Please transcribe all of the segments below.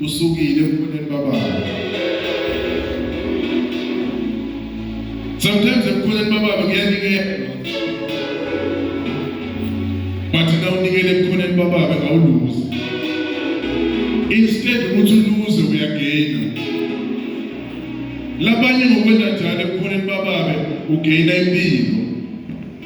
Usukile ebukhoneni bababa. Sometimes ebukhoneni bababa ngiyanikelwa. But na unikele ebukhoneni bababa awuluzi. Instead ukuthi uluze uyagaina. Labanye ngokwenza njalo ebukhoneni bababa ugaina impilo.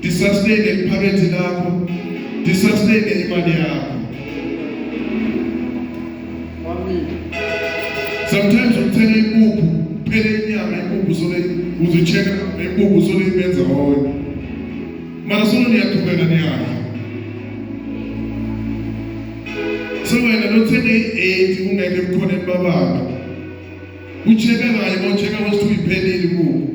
Disustain iphakethe lakho. Disustain imali yakho. Sometimes uthenga impuphu, phela inyama impuphu sole uzicheka impuphu sole ibenza wonke. Mara solo niyaqhubeka niyadla. So wena lothenge i-8 ungeke kukhona ebabaka. Ucheka kanye, ucheka wesithu iphelile impuphu.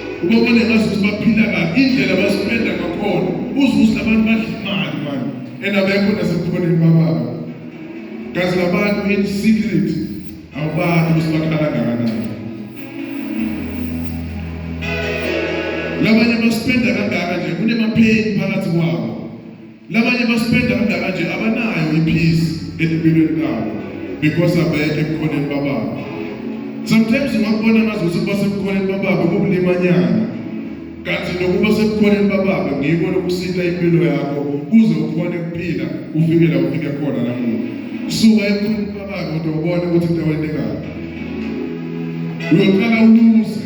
Ngoba nengazisi baphila kabi indlela basipenda ngakhona uzuza abantu badla imali mani and abekho nasebukhoneni bababa kazi labantu in secret awubazi ukuthi bakhala kangakanani labanye basipenda kangaka nje kunemapheni phakathi kwabo Labanye baspenda kangaka nje abanayo ipeace empilweni kabo because abeke ebukhoneni bababo. Sometimes ungakubona ngaze ukuthi kuba sebukhoneni bababo kubulimanyana. Kanti nokuba sebukhoneni bababo ngiko lokusita impilo yakho kuze ukhone kuphila ufike la ufike khona namuhla. Suka ebukhoneni bababo kodwa ubone ukuthi into wayinekaphi. Uyoqala umuzi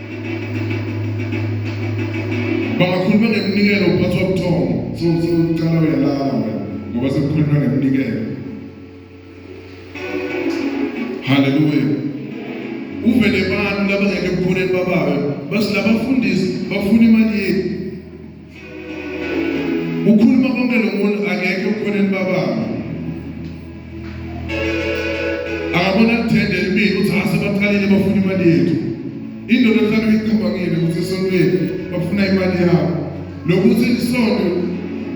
Bangakhuluma ngeminikelo uphathwa ubuthongo sowucala uyalala wena ngoba sekukhulunywa ngeminikelo. Haleluya. Uvele abantu labangeke ekukhuleni bababe basilabafundisi bafuna imali yethu ukhuluma konke lo muntu akekho ekhoneni bababa akabona kuthende elibili ukuthi asebaqalile bafuna imali yethu indoda ehlala uyicabangile ukuthi esontweni bafuna imali yabo lokuthi isonto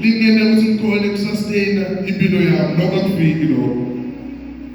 lingene ukuthi likhone kusasteyina impilo yabo lokho akufiki lokho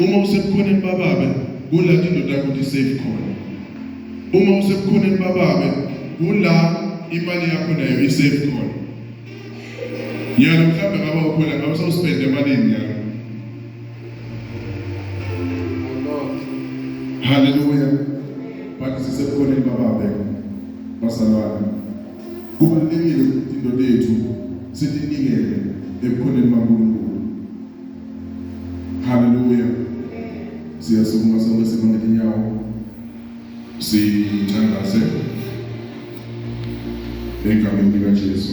Uma usebukhoneni bababe, kula indoda yakho isafe khona. Uma usebukhoneni bababe, kula imali yakho nayo isafe khona. Yena mhlawumbe ngaba ukhona ngabe usawuspenda emalini yakho. Hallelujah. Bathi sisebukhoneni bababe. Basalwana. Kubalulekile ukuthi indoda yethu sitinike ebukhoneni baNkulunkulu Haleluya. Siyasukuma sonke sibambe inyawo. Sithandaze. Egameni likaJesu.